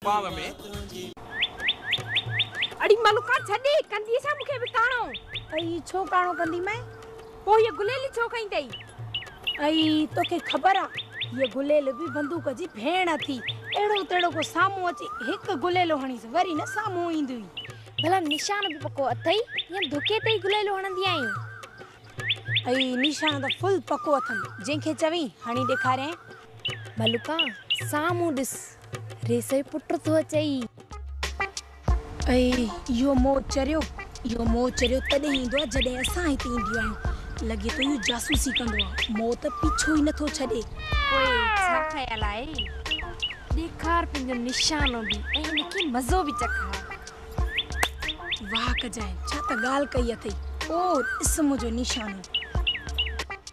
پاء ۾. اڙي ملڪان ڇڏي ڪندينء ڇا مون کي به ڪاڻو؟ اي ڇو ڪاڻو ڪندي مئي؟ پوء هيء گليل ڇو کنئي اٿئي؟ اي توکي خبر آ هيء گليل به بندوق جي ڀيڻ اٿي. اهڙو تهڙو ڪو سامهون اچي هڪ گليلو هڻيس وري نه سامهون ايندو ئي. ڀلا نشان به پڪو اٿئي يا ڌڪي تي ئي گليلو هڻندي آهين؟ اي نشان ته فل پڪو اٿم جنهن کي چوين هڻي ڏيکاريانء. ڀلڪا سامهون ڏس، ريس جو پٽ ٿو اچئي. اي اهو مور چريو، اهو مور چريو تڏهن ايندو آهي جڏهن اسان هتي اينديون آهيون. لڳي ٿو اهو جاسوسي ڪندو آهي. مور ته پيڇو ئي نٿو ڇڏي. پوء ڇا خيال آهي؟ ڏيکار پنهنجو نشانو به ۽ ان کي مزو به چکاء. واهه ڪجانء، ڇا ته ڳالهه ڪئي اٿئي. او، ڏس منهنجو نشانو.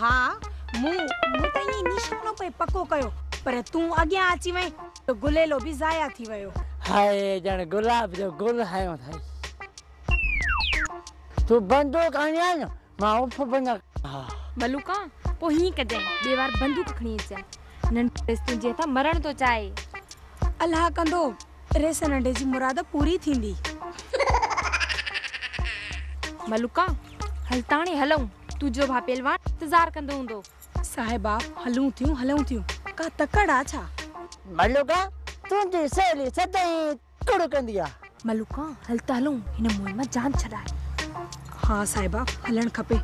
ها، مون مون ته ائين نشانو پئي پڪو ڪيو، پر تون اڳيان اچي وئين ته گليلو به ضايع ٿي ويو. هاء، ڄڻ گلاب جو گل هنيو اٿئي. تون بندوق هڻيان نه، مان اف به نه ڪندس. ملوڪا، پوء هيئن ڪجانء، ٻي وار بندوق کڻي اچجانء. ننڍڙيس تنهنجي هٿان مرڻ ٿو چاهي. الله ڪندو، ري سنهڙي جي مراد پوري ٿيندي. ملوڪا، هل تاڻي هلئون. تنهنجو ڀاء پهلوان انتظار ڪندو هوندو. صاحبه، هلون ٿيون هلئون ٿيون. ڪا تڪڙ آ ڇا؟ ملوڪا، تنهنجي سهيلي سدائين تڪڙ ڪندي آ. ملوڪا، هل ته هلئون. هن موهين مان جان ڇڏائي. ها صاحبه، هلڻ کپي.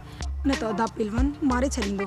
نه ته ادا پهلوان ماري ڇڏيندو.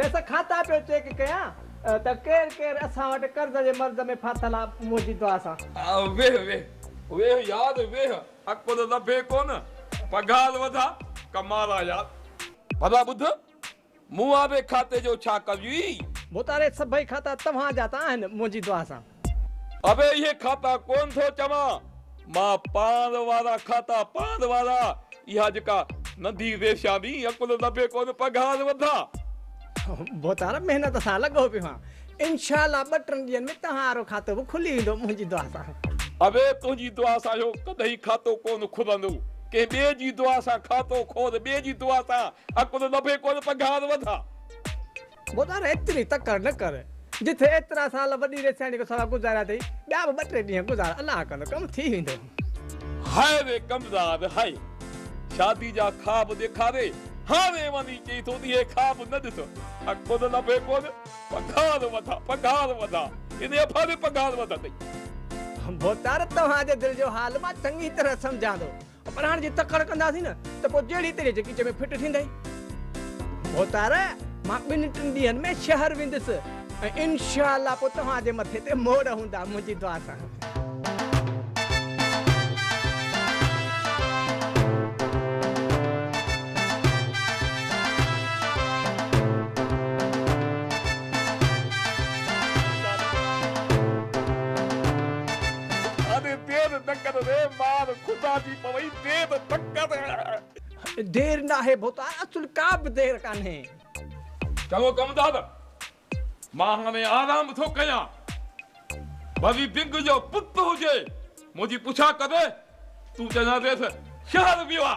ريس کاتا پيو چيڪ ڪيان ته ڪير ڪير اسان وٽ قرض جي مرض ۾ ڦاٿل آ منهنجي دعا سان. ويهه ويهه ويهه يار ويهه اڪبر ربي ڪونه پگهار وڌا ڪمارا يار. ڀلا ٻڌ مون واري کاتي جو ڇا ڪريوئي. مون تاري سڀئي کاتا توهان جا ته آهن منهنجي دعا سان. اوهين اهي کاتا ڪونه ٿو چوان، مان پاند وارا کاتا پاند وارا اها جيڪا ننڍي ريشا ڏي عقل دٻي ڪونه پگهار وڌان. بوتار محنت سان لڳو پيو آهيان انشاء الله ٻه ٽن ڏينهن ۾ توهان وارو کاتو به کلي ويندو منهنجي دعا سان. اوهي تنهنجي دعا سان اهو ڪڏهن کاتو ڪونه کلندو ڪنهن ٻئي جي دعا سان کاتو کول ٻئي جي دعا سان عقل دٻي ڪونه پگهار وڌان. گوڌار ايتري تڪڙ نه ڪر، جٿي ايترا سال وڏي ريسياڻي کان سوا گذاريا اٿئي، ٻيا به ٻه ٽي ڏينهن گذار، الله ڪندو ڪم ٿي ويندو. هاء وي ڪمزاد هاء شادي جا خواب ڏيکاري هاء وي وڃي چئي ٿو ته اهي خواب نه ڏس ها ڪونه لڀي ڪونه پگهار وڌا پگهار وڌا ان افا به پگهار وڌندئي. گوڌار توهان جي دل جو حال مان چڱي طرح سمجهان ٿو پر هاڻ جي تڪڙ ڪنداسين نه ته پوء جهڙي تهڙي جڪيچ ۾ ڦٽ ٿيندئي. ڀوتار، مان ٻن ٽن ڏينهن ۾ شهر ويندس ۽ انشاء الله پوء توهان جي مٿي تي موڙ هوندا، منهنجي دعا سان. اڙي دير نه ڪر ري مار خدا جي پوي دير نه ڪر. دير ناهي ڀوتا اصل ڪا به دير ڪانهي. چڱو ڪم دادا مان هاڻي آرام ٿو ڪيان وري بگ جو پٽ هجي منهنجي پڇا ڪري تون چئجانس شهر ويو آ.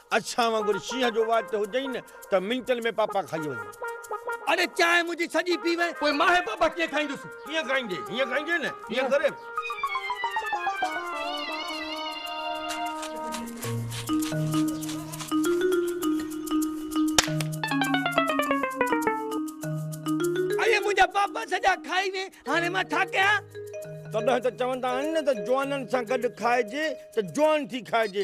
اسان وانگر شينهن جو واچ هجئي نه ته منٽن ۾ پاپا کائي وڃي. اڙي چانهه منهنجي سڄي پي وئين. پوء مان هي پاپا ڪيئن کائيندس. ڪيئن کائيندين؟ هيئن کائيندين نه. هيئن ڪري. اڙي منهنجا پاپا سڄا کائي وئين هاڻي مان ڇا ڪيان. تڏهن ته چوندا آهن نه ته جوانن سان گڏ کائجي ته جوان ٿي کائجي.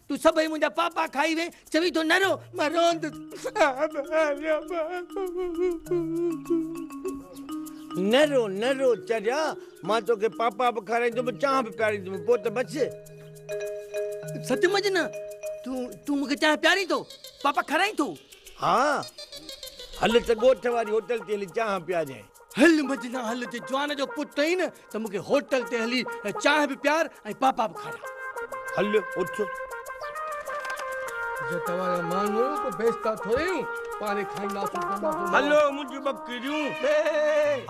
تون سڀئي منهنجا پاپا کائي وين، چوين ٿو نه رو، مان روئندس. نه رو نه رو چريا، مان توکي پاپا به کارائيندم، چانهه به پياريندم، پوء ته بس. سچ مچ نه؟ تون مون کي چانهه پيارين ٿو؟ پاپا کارائين ٿو؟ ها. هل ته ڳوٺ واري هوٽل تي هلي چانهه پياريائين. هل مجنا هل جي جوان جو پٽ آهين نه ته مون کي هوٽل تي هلي چانهه به پيار ۽ پاپا به کاراء. هل اٿ. جي توهان جا ماڻهو ڪو بيستا ٿوري آهيون پاڻي کائينداسون پيئنداسون. هلو منهنجون ٻڪريون.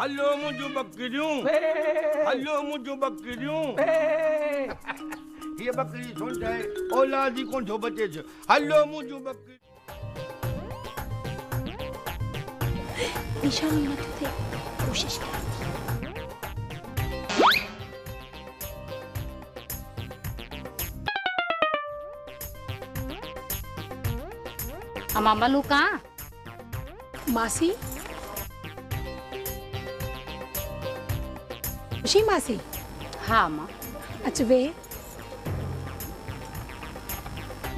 هلو منهنجون ٻڪريون. هلو منهنجون ٻڪريون. هيء ٻڪري سونڍ آهي اولاد ئي ڪونه ٿو بچيس. هلو منهنجون ٻڪريون. نشاني نه ٿو ٿئي ڪوشش ڪيان ٿي. امان ملوڪ آن ماسي. خوشي ماسي. ها امان. اچ ويهه.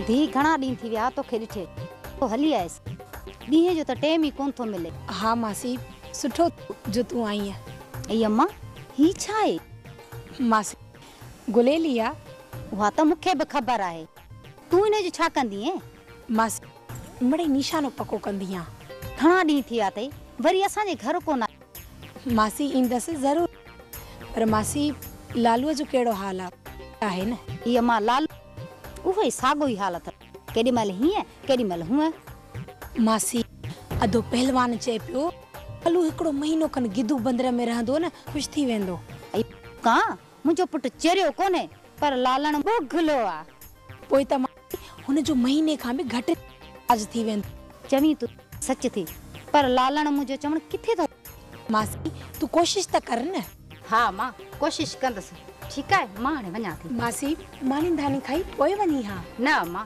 ڌيء گهڻا ڏينهن ٿي ويا توکي ڏٺي. تو هلي آيس. ڏينهن جو ته ٽيم ئي ڪونه ٿو ملي. ها ماسي سٺو ٿيو جو تون آئينء. اي اما! هي ڇا آهي؟ ماسي! گليلي آ. اها ته مون کي به خبر آهي. تون هن جو ڇا ڪندينء؟ ماسي! مڙئي نيشانو پڪو ڪندينء. گهڻا ڏينهن ٿي ويا اٿئي. وري اسان جي گهر ڪونه آيو. ماسي ايندس ضرور پر ماسي لالوء جو ڪهڙو حال آ آهي نه. اي امان لالو اهو ئي ساڳو ئي حال اٿس ڪيڏي مهل هيئن ڪيڏي مهل هونئن. ماسي اڌو پهلوان چئي پيو لالو هڪڙو مهينو کن گدو بندر ۾ رهندو نه خوش ٿي ويندو. اي ڪان منهنجو پٽ چريو ڪونهي، پر لالڻ ٻگهلو آ. پوء ته ماڻهو هن جو مهيني کان به گهٽ ريچارج ٿي ويندو. چوين ٿو ته سچ ٿي، پر لالڻ منهنجو چوڻ ڪٿي ٿو مڃي. ماسي، تون ڪوشش ته ڪر نه. ها مان ڪوشش ڪندس. ٺيڪ آهي، مان هاڻي وڃان ٿي. ماسي، ماني ڌاني کائي پوء وڃين ها. نه امان،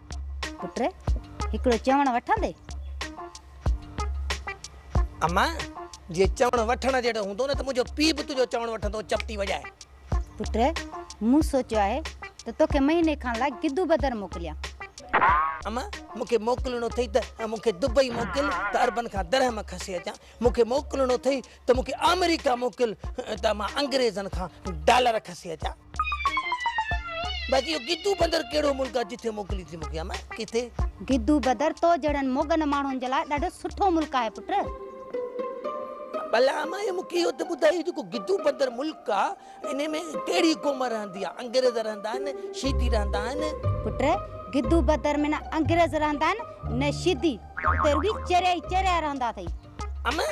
پٽ هڪڙو چوڻ وٺندي. اما! جي چوڻ وٺڻ جهڙو هوندو نه ته منهنجو پيء به تنهنجو چوڻ وٺندو چپٽي وڄائي. پٽ مون سوچيو آهي ته توکي مهيني کان لاء گدو بدر موڪليان. اما! مون کي موڪلڻو اٿئي ته مون کي دبئي موڪل ته عربن کان درهم کسي اچان. مون کي موڪلڻو اٿئي ته مون کي آمريڪا موڪل ته مان انگريزن کان ڊالر کسي اچان بس اهو گدو بندر ڪهڙو ملڪ آهي جتي موڪلي ٿي مون کي امان ڪٿي گدو بدر تو جهڙن موڳن ماڻهن جي لاء ڏاڍو سٺو ملڪ آهي پٽ. ڀلا امان اهو مون کي اهو ته ٻڌاء هي جيڪو گدو بندر ملڪ آ انهي ۾ ڪهڙي قوم رهندي آ انگريز رهندا آهن شيدي رهندا آهن. پٽ گدو بدر ۾ نه انگريز رهندا آهن نه شيدي اتي رڳي چريا ئي چريا رهندا اٿئي. امان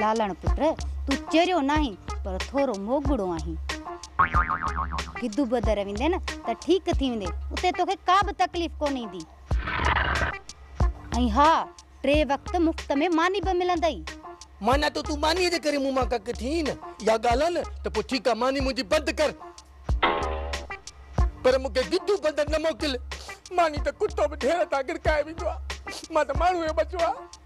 لالڻ پٽ! تون چريو ناهين، پر ٿورو موڳڙو آهين. گدو بدر ويندين ته ٺيڪ ٿي ويندين. اتي توکي ڪا به تڪليف ڪونه ايندي. ۽ ها! ٽي وقت مفت ۾ ماني به ملندئي. معنيٰ ته تون مانيء جي ڪري مون مان ڪڪ ٿيئين نه؟ اها ڳالهه آهي نه؟ ته پوء ٺيڪ آهي، ماني منهنجي بند ڪر. پر مون کي گدو بدر نه موڪل. ماني ته ڪتو به ڍير تان گڙڪائي ويندو آهي. مان ته ماڻهو ئي ٻچو آهيان.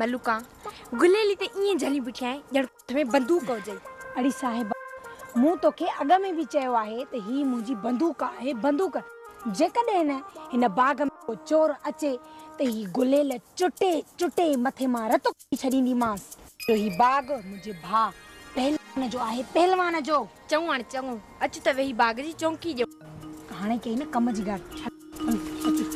ملوڪا گليلي تي ائين جهلي بيٺي آهين ڄڻ هٿ ۾ بندوق هجئي. اڙي صاحبه مون توکي اڳ ۾ به چيو آهي ته هي منهنجي بندوق آهي بندوق جيڪڏهن هن باغ ۾ ڪو چور اچي ته هي گليل چٽي چٽي مٿي مان رت ڪڍي ڇڏينديمانس. جو هي باغ منهنجي ڀاء پهلوان جو آهي، پهلوان جو. چڱو هاڻي چڱو، اچ ته ويهي باغ جي چونڪي ڄم. هاڻي ڪئي نه ڪم جي ڳالهه، هل اچ.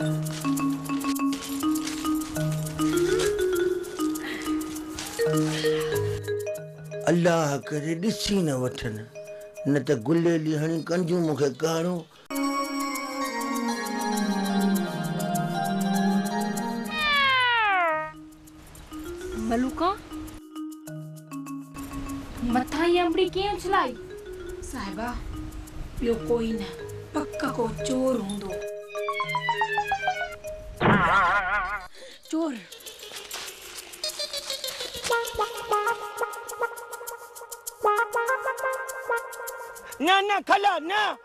الله ڪري ڏسي نه وٺن، نه ته گليلي هڻي ڪنجون مون کي ڪارو ملوڪا! مٿان هي انبڙي ڪنهن اڇلائي؟ صاحبه! ٻيو ڪوئي نه، پڪ ڪو چور هوندو. چور! نه نه کلا نه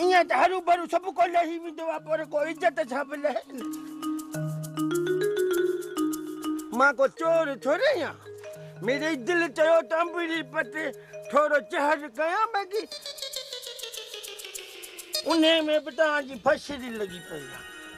ايئن ته هروڀرو سڀ ڪو لهي ويندو آهي پر ڪو عزت سان به لهي نه. مان ڪو چور ٿوري آهيان. ميري دل چيو ته انبڙي پٽي ٿورو چهر ڪيان بيگي. انهيء ۾ به توهان جي فشري لڳي پئي آهي.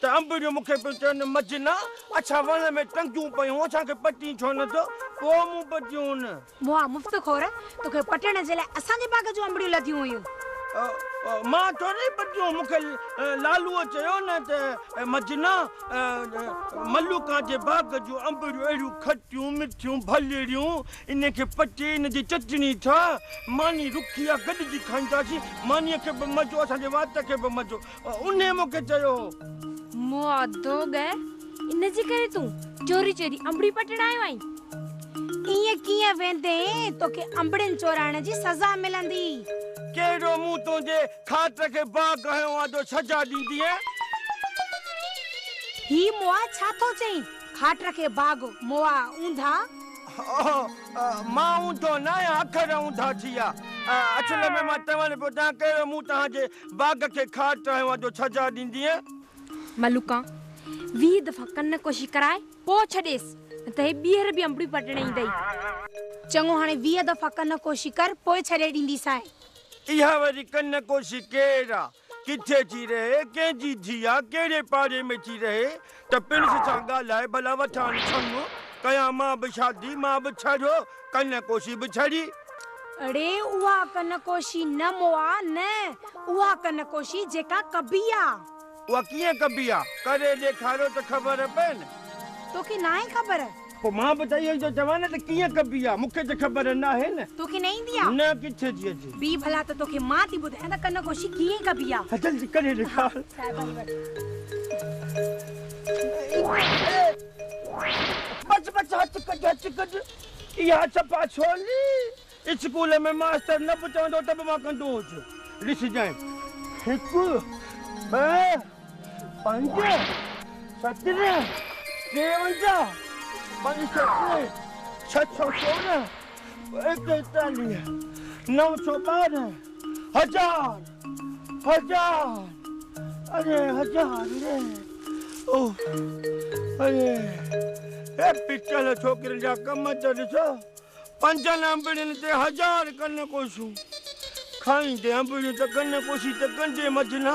ته انب جو مون کي پيو چون، مجنه! اڇا وڻ ۾ ٽنگيون پيون، اسان کي پٽين ڇو نه ٿو؟ پوء مون پٽيون. موئا مفت خور! توکي پٽڻ جي لاء اسان جي باغ جون انبڙيون لڌيون هيون. مان ٿورئي پٽيون، مون کي لالوء چيو نه ته، مجنه! ملوڪان جي باغ جون انبڙيون اهڙيون کٽيون، مٺيون، ڀلڙيون، انهن کي پٽي ان جي چٽڻي ٺاهه. ماني رکي آ، گڏجي کائينداسين. مانيء کي به مزو، اسان جي وات کي به مزو. انهيء مون کي چيو هو. مئادو ڳهه، ان جي ڪري تون چوري چوري انبڙي پٽڻ آيو آهين؟ ائين ڪيئن ويندين، توکي انبڙين چورائڻ جي سزا ملندي. ڪهڙو مون تنهنجي کاٽ کي باغ هنيو آ جو سزا ڏيندينء؟ هي مئا ڇا ٿو چئين، کاٽ کي باغ، مئا اونڌا؟ اوهو، مان اونڌو ناهيان، اکر اونڌا ٿي ويا. اصل ۾ مان چوڻ پيو چاهيان، ڪهڙو مون توهان جي باغ کي کاٽ ٽهيوان جو ڇجهاء ڏيندينء. ملوڪان، ويهه دفعا ڪن ڪشي ڪرائي پوء ڇڏيس، نه ته هي ٻيهر به انبڙيون پٽڻ ايندئي. چڱو، هاڻي ويهه دفعا ڪن ڪشي ڪر، پوء ڇڏي ڏينديسانء. اها وري ڪن ڪشي ڪير آ؟ ڪٿي ٿي رهي؟ ڪنهن جي ڌيء آ؟ ڪهڙي پاڙي ۾ ٿي رهي؟ ته پڻس سان ڳالهائي ڀلا وٺان ڇنگ ڪيان مان به شادي مان به ڇڙيو ڪن ڪوشي به ڇڙي. اڙي اها ڪن ڪوشي نه مئا نه اها ڪن ڪوشي جيڪا ڪبي آ. اها ڪيئن ڪبي آ ڪري ڏيکاريو ته خبر پين. توکي ناهي خبر پوء مان به چئي ايندو جوان ته ڪيئن ڪبي آ مون کي ته خبر ناهي نه. توکي نه ايندي آ؟ نه ڪٿي ٿي اچي. بيهه ڀلا ته توکي مان ٿي ٻڌايان ته ڪن گوشي ڪيئن ڪبي آ. ها جلدي ڪري ڏيکار. بس بس هٿ ڪڍ هٿ ڪڍ اها چپا ڇولي. اسڪول ۾ ماستر نه به چوندو ته به مان ڪندو هجس. ڏسجانء هڪ ٻه پنج سترنهن ٽيونجاهه پنج سترنهن ڇهه سؤ سورنهن ايڪيتاليهه نو سؤ ٻارنهن هزار هزار اري هزار ري اوهه اري هي پچل ڇوڪرين جا ڪم ته ڏسو. پنجن انبڙين تي هزار ڪن ڪوشون، کائيندي انبڙيون ته ڪن ڪوشي ته ڪنڊي مجنا.